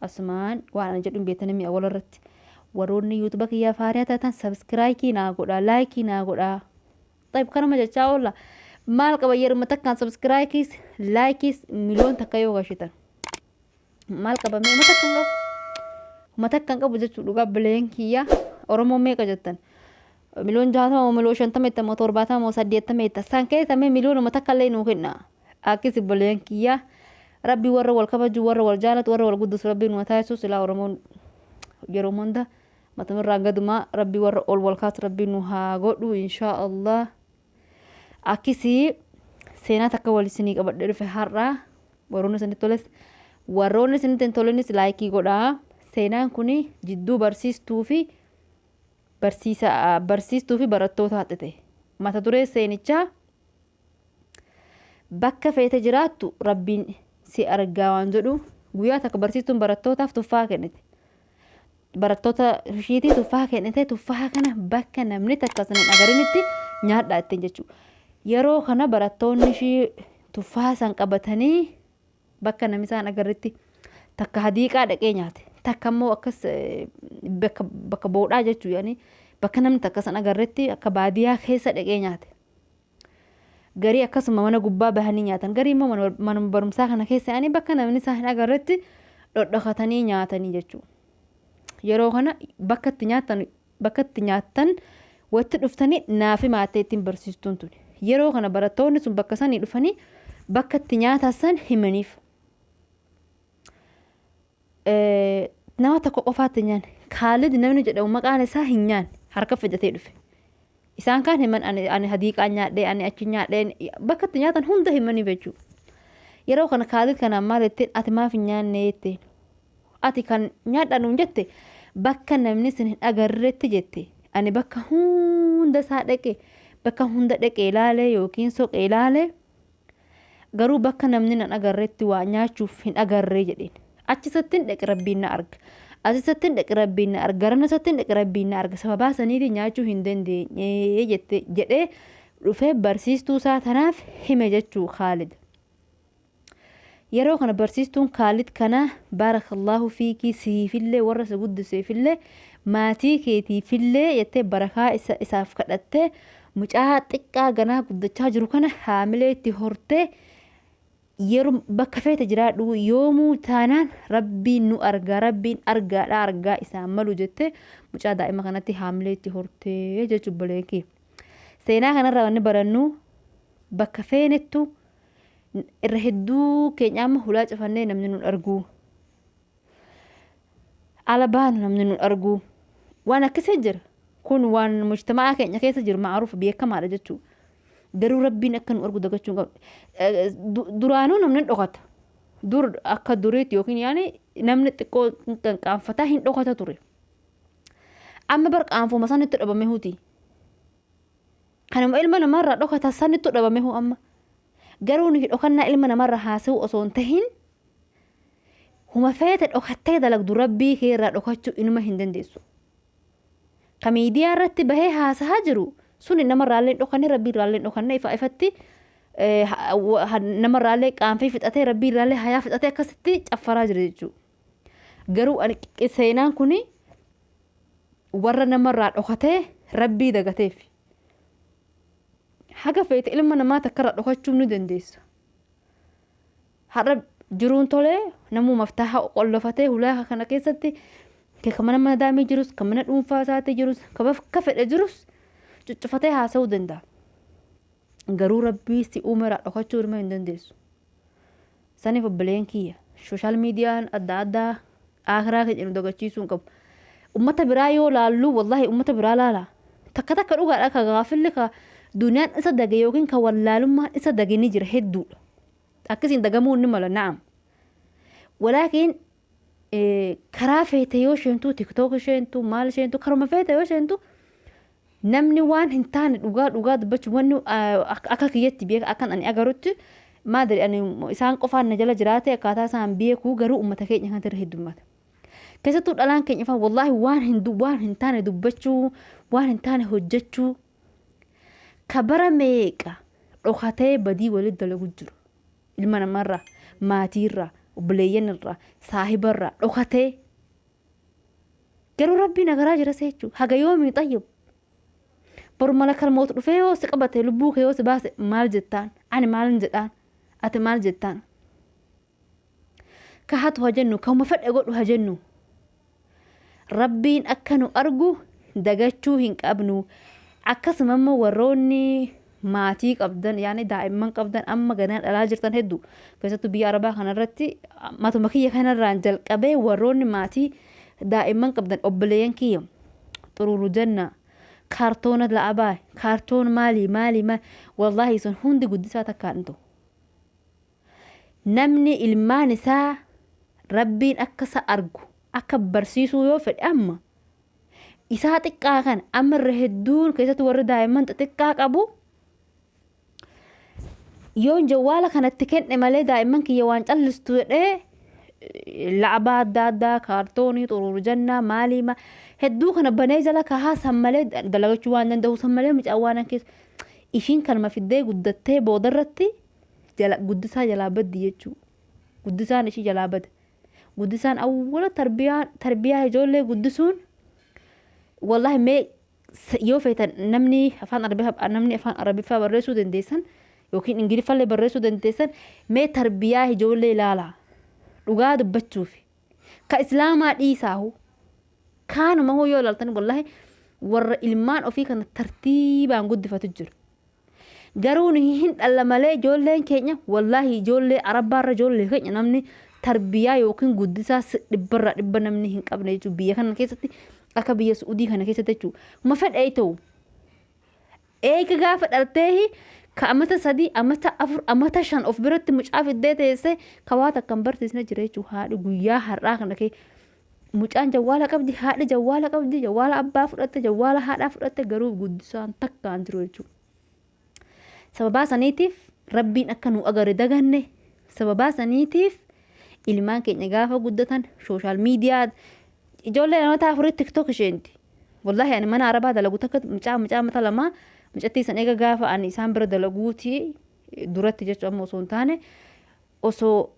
Asumaan waan ani jedhu hin beektan mi'a wal irratti. Waroonni yuutuba kiyyaa faariyaa taatan sabskiraayikii naa godhaa laayikii naa godhaa. Xayib kanuma jechaa oolla. Maal qaba yeruma takkaan sabskiraayikiis laayikiis miliyoon takka yoo gashitan. Maal qaba mee mata kan qabu. Mata kan qabu jechuu dhugaa bileen kiyyaa Oromoo meeqa jettan. Miliyoon jaatama moo miliyoon shantama jettan moo torbaatama moo saddeettama jettan. San keessa mee miliyoonuma takka illee nuu kennaa. Akkis obboleyan kiyyaa rabbi warra wal kabaju warra wal jaalatu warra wal guddisu rabbi nu taasisu silaa oromoon yeroo hunda matamirraa gadumaa rabbi warra ol wal kaasu rabbi nu haa godhu inshaa allah akkisi seenaa takka wal isinii qabadhee dhufe har'aa warroonni isinitti toles warroonni isinitti hin tolenis laayikii godhaa seenaan kun jidduu barsiistuu fi barsiisaa barsiistuu fi barattoota haxxite mata duree seenichaa Bakka feete jiraattu Rabbiin si argaa waan jedhu guyyaa takka barsiistuun barattootaaf tuffaa kennite. Barattoota ishiitii tuffaa kennite tuffaa kana bakka namni takka sana hin agarinitti nyaadhaa ittiin jechuudha. Yeroo kana barattoonni ishii tuffaa san qabatanii bakka namni isaan agarretti takka hadiiqaa dhaqee nyaate takka immoo akkas eh, bakka bakka boodhaa jechuu yaani bakka namni takka san agarretti akka baadiyaa keessa dhaqee nyaate. Garii akkasuma mana gubbaa bahanii nyaatan. Garii immoo mana- manuma barumsaa kana keessa yaa'anii bakka namni isaa hin agarretti dhodhokatanii nyaatanii jechuudha. Yeroo kana bakka itti nyaatan bakka itti nyaatan watti dhuftanii naaf himaattee ittiin barsiistuun tuni. Yeroo kana barattoonni sun bakka sanii dhufanii bakka itti nyaatan san himaniif. Nama tokko qofaatti hin nyaanne. Kaalid namni jedhamu maqaan isaa hin nyaanne. Harka fidatee dhufe. Isaan kaan himan ani, ani hadiiqaa nyaadhee, ani achi nyaadhee, bakka itti nyaatan hunda himanii jechuu. Yeroo kana Kaalid kanaan maal jetteen ati maaf hin nyaanne jetteen. Ati kan nyaadhaa nuun jette bakka namni isin hin agarretti jette. Ani bakka hunda isaa dhaqe, bakka hunda dhaqee ilaalee yookiin soqee ilaalee Garuu bakka namni nan agarretti waa nyaachuuf hin agarre jedheen. Achisattin dhaqe Rabbiin na arga. Asisattin dhaqe Rabbiin na arga. Garanasattin dhaqe Rabbiin na arga. Sababaa saniifi nyaachuu hin dandeenye jette jedhee dhufee barsiistuu isaa tanaaf hime jechuu Khaalid. Yeroo kana barsiistuun Khaalid kana baarakallaahu fiikii siifillee warra si guddiseefillee maatii keetiifillee jettee barakaa isa isaaf kadhattee Mucaa xiqqaa ganaa guddachaa jiru kana haamilee itti hortee yeroo bakka feete jiraadhu yoomuu taanaan rabbiin nu argaa rabbiin argaadha argaa isaan malu jettee mucaa daa'ima kanatti haamilee itti hortee jechuu obboleeyyii. Seenaa kanarraa wanni barannu bakka feenettu irra hedduu keenya amma hulaa cufannee namni nun arguu. ala baanu namni nu arguu waan akkasii jira kun waan mujtamaa keenya keessa jiru ma'aruuf beekamaadha jechuu garuu rabbiin akka nu argu dagachuu hin qabnu Du- duraanuu namni hin dhokata dur akka duriitti yookiin yaani namni xiqqoo hin qaanqaanfataa hin dhokata ture amma bar qaanfuma sanitti dhabame huti kanuma ilma namaarraa dhokata sanitti dhabame hu amma Garuu nuti dhokannaa ilma namarra haasa'uu osoo hin tahin huma feete dhokattee dalagdu rabbii kee irraa dhokachuu inuma hin dandeessu. Ka miidiyaa irratti bahee haasahaa jiru suni namarraallee hin dhokanne rabbii irraallee hin dhokanne ifa ifatti namarraallee qaanfee fixatee rabbii irraallee hayaa fixatee akkasitti caffaraa jira jechuudha. Garuu ani seenaan kuni warra namarraa dhokatee rabbii dagateef haga feete ilma namaa takkarra dhokachuu ni dandeessa. Har'a jiruun tolee namuu maftaaha qollofatee hulaa kana keessatti kan mana mana daamee jirus kan mana dhuunfaa isaatii jirus kan bakka fedhe jirus cuccufatee haasa'uu danda'a. Garuu rabbii si uumeraa dhokachuu ilma hin dandeessu. Sanif obboleen kiyya social median adda adda aakhiraa keenya nu dagachiisuu hin qabu. Ummata biraa yoo laallu wallahi ummata biraa laala. Takka takka dhugaadha ka gaafilli ka duniyaan isa dage yookiin ka wallaalummaan isa dage ni jira hedduudha. Akkasiin dagamuu ni mala na'am. Walaakiin karaa feete yoo sheentu tiktok sheentu maal sheentu karuma feete yoo sheentu Namni waan hin taane dhugaa dhugaa dubbachuun wanni akka kiyyatti beeka akkan ani agarutti maadari ani isaan qofaan na jala jiraate akkaataa isaan beekuu garuu uummata keenya kanatti irra heddummata. Keessattuu dhalaan keenya fa'aa wallaahi waan hin waan hin taane dubbachuu waan hin taane hojjechuu ka bara meeqa dhokatee badii walitti dalagu jiru. Ilma namarraa maatiirraa obboleeyyanirraa saahibarraa dhokatee Garuu rabbii na garaa jira seechuu haga yoomii xayyib. Boru malakal mootu dhufee yoo si qabate lubbuu kee yoo si baase maal jettaan ani maalin jedhaan ati maal jettaan. Ka hatu ha jennu kauma fedhe godhu ha jennu. Rabbiin akka nu argu dagachuu hin qabnu. Akkasuma immoo warroonni maatii qabdan yaani daa'imman qabdan amma ganaa dhalaa jirtan hedduu keessattuu biyya arabaa kanarratti matuma kiyya kanarraan jalqabee warroonni maatii daa'imman qabdan obboleeyyan kiyya xuruuru janna kaartoona la'abaa kaartoon maalii maalii maal wallaahi sun hundi guddisaa takkaan hin ta'u. Namni ilmaan isaa Rabbiin akka isa argu akka barsiisuu yoo fedhe amma isaa xiqqaa kana amma irra hedduun keessatti warri daa'imman xixiqqaa qabu yoon jawwaala kanatti kenne malee daa'imman kiyya waan callistu jedhee la'abaa adda addaa kaartoonii xuruur jannaa maalii ma hedduu kana banee jala kahaa san malee dalagachuu waan danda'u san malee mucaan waan keessa ishiin kanuma fiddee guddattee boodarratti jala guddisaa jalaa baddi jechuu guddisaan ishii jalaa bada guddisaan awwala tarbiyaa tarbiyaa ijoollee guddisuun wallahi mee s- yoo feetan namni afaan arabiffaa namni afaan arabiffaa barreessuu dandeessan yookiin ingiliffallee barreessuu dandeessan mee tarbiyaa ijoollee ilaala dhugaa dubbachuuf ka islaamaa dhiisaahu kaanuma hoo yoo ilaaltan wallahi warra ilmaan ofii kana tartiibaan guddifatu jiru Garuu nuyi hin dhalla malee ijoolleen keenya wallaahi ijoollee arabbaarra ijoollee keenya namni tarbiyaa yookiin guddisaa si- dhibbarraa dhibba namni hin qabne jechuudha. Biyya kana keessatti akka biyya Su'udii kana keessatti jechuudha. Ma fedhee ta'u eega gaafa dhaltee ka amata sadii amata afur amata shan of biratti mucaa fiddee teessee ka waa takka hin barsiisne jira jechuudha. Haadhi guyyaa har'aa kana kee Mucaan jawwaala qabdi, haadhi jawwaala qabdi, jawwaala abbaa fudhatte, jawwaala haadhaa fudhatte garuu guddisaan takka hin jiru jechuudha. Sababaa saniitiif rabbiin akka nu agare daganne sababaa saniitiif ilmaan keenya gaafa guddatan sooshaal miidiyaa ijoollee namoota afurii tiktok isheenti. Wallaahi ani mana arabaa dalagu takka mucaa mucaa mata lamaa mucattii san eega gaafa ani isaan bira dalaguuti duratti jechuun amma osoo hin taane osoo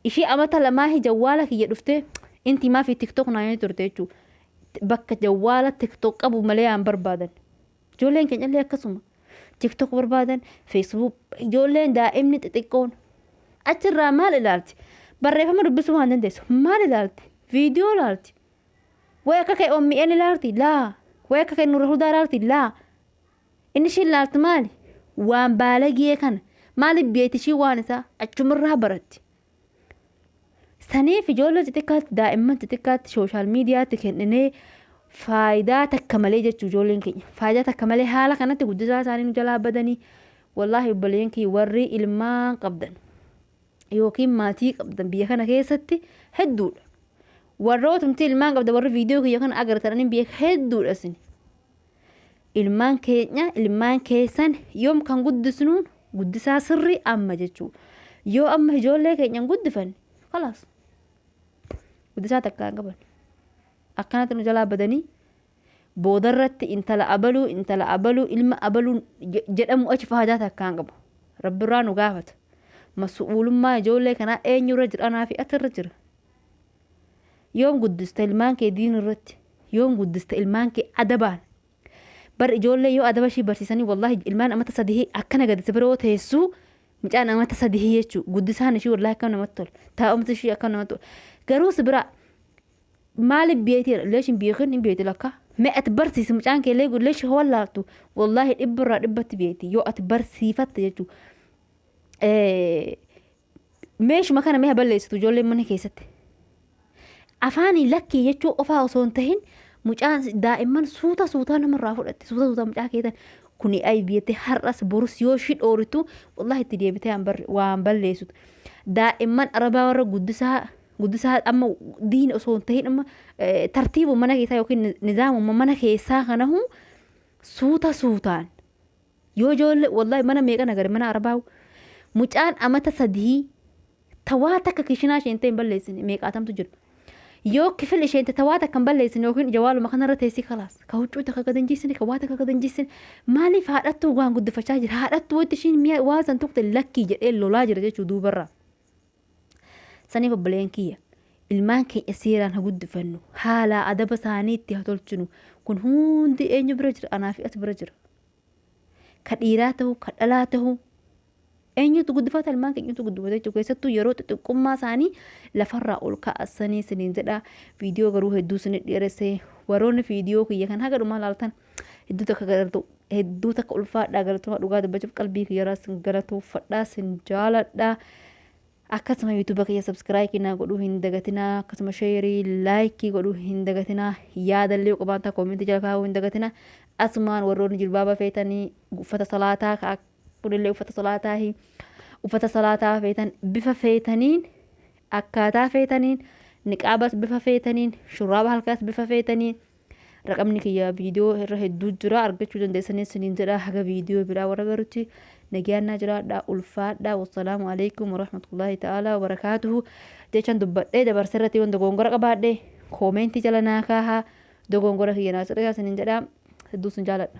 Ishii amata lamaahi jawwaala kiyya dhuftee inti maafi tiktok naan jedhee turte jechuu bakka jawwaala tiktok qabu malee aan barbaadan ijoolleen keenyallee akkasuma tiktok barbaadan facebook ijoolleen daa'imni xixiqqoon achirraa maal ilaalti barreeffama dubbisuu waan dandeessu maal ilaalti viidiyoo ilaalti way akka kee omn ilaalti laa way akka kee nurra hudaa ilaalti laa Inni ishiin laaltu maali? Waan baalagee kana. Maaliif beekti ishii waan isaa achumarraa baratti. Saniif ijoollee xixiqqaatti daa'imman xixiqqaatti sooshaal miidiyaatti kenninee faayidaa takka malee jechuu ijoolleen keenya. Faayidaa takka malee haala kanatti guddisaa isaanii nu jalaa badanii wallaahi obboleeyyan kiyya warri ilmaan qabdan yookiin maatii qabdan biyya kana keessatti hedduudha. Warrootumti ilmaan qabda warri viidiyoo kiyya kana agartan anin biyya hedduudha isin. Ilmaan keenya, ilmaan keessan yoom kan guddisnuun guddisaa sirrii amma jechuu. Yoo amma ijoollee keenya hin guddifanne, kalaas. Guddisaa takka hin qaban. Akkanatti nu jalaa badanii boodarratti intala abaluu, intala abaluu, ilma abaluu je- jedhamu achi faayidaa takka hin qabu. Rabbirraa nu gaafata. Masu'uulummaa ijoollee kanaa eenyurra jira? Anaa fi ati irra jira. Yoom guddista ilmaan kee diin irratti? Yoom guddista ilmaan kee adabaan? Bar ijoollee yoo adaba ishii barsiisanii wallaahi ilmaan amata sadihii akkana gadi si bira yoo teessuu mucaan amata sadihii jechuu guddisaan ishii wallaahi akkam namatti tola. Taa'umsi ishii akkam namatti tola. Garuu si bira maaliif beekti leesh hin beekin hin beekti lakka. Mee ati barsiisi mucaan kee leegu leesh yoo wallaaltu wallaahi dhibba irraa dhibbatti beekti yoo ati barsiifatte jechuu. Meeshuma kana mee ha balleessitu ijoolleen mana keessatti. Afaanii lakkii jechuu qofaa osoo hin tahin mucaan daa'imman suuta suutaa namarraa fudhatti suuta suutaa mucaa keetan kuni aybi jettee har'as borus yoo ishii dhooritu wallahi itti deebitee waan bar- waan balleessitu. Daa'imman arabaa warra guddisaa guddisaa amma diin osoo hin tahin amma eh, tartiibuma mana keessaa yookiin nizaamuma mana keessaa kanahu suuta suutaan Yoo joolle wallahi mana meeqa nagare mana arabaawu mucaan amata sadihii ta waa takka kishinaa isheente hin balleessine meeqaatamtu jiru. Yoo kifil isheente ta waa takka hin balleessine yookiin jawaaluma kanarra teessii kalaas ka huccuu takka gad hin jiissine ka waa takka gad hin jiissine maaliif haadhattuu waan guddifachaa jira haadhattuu wanti ishiin mi'a waa san tuqte lakkii jedhee lolaa jira jechuu duubarraa. saniif obboleen kiyya ilmaan keenya seeraan ha guddifannu haalaa adaba isaanii itti ha tolchinu kun hundi eenyu bira jira anaa fi ati bira jira ka dhiiraa ta'u ka dhalaa ta'u eenyutu guddifata ilmaan keenyutu guddifata jechuudha keessattuu yeroo xixiqqummaa isaanii lafarraa ol kaasanii isiniin jedha viidiyoo garuu hedduu isin dheeressee warroonni viidiyoo kiyya kan haga dhumaa laaltan Hedduu takka galatoo hedduu takka ulfaadhaa galatoomaa dhugaa dubbachuuf qalbii kiyyaraa sin galatoofadhaa sin jaaladhaa. Akkasuma yuutuuba kiyya sabskiraayikii naa godhuu hin dagatinaa akkasuma sheerii laayikii godhuu hin dagatinaa yaadallee yoo qabaattan koomentii jala kaa'uu hin dagatinaa asumaan warroonni jilbaaba feetanii uffata salaataa ka kunillee uffata salaataa hi uffata salaataa feetan bifa feetaniin akkaataa feetaniin niqaabas bifa feetaniin shurraaba halkaas bifa feetaniin Raqamni kiyya viidiyoo irra hedduu jira argachuu dandeessanii isiniin jedha haga viidiyoo biraa warra garutti nagaan naa jiraadha ulfaadha wassalaamu alaikum warahmatullaahi ta'aalaa wabarakaatuhu jechan dubbadhee dabarse irratti yoon dogoongora qabaadhe koomeentii jala naa kaaha dogoongora kiyya naa sirreessaa isiniin jedha hedduu isin jaaladha.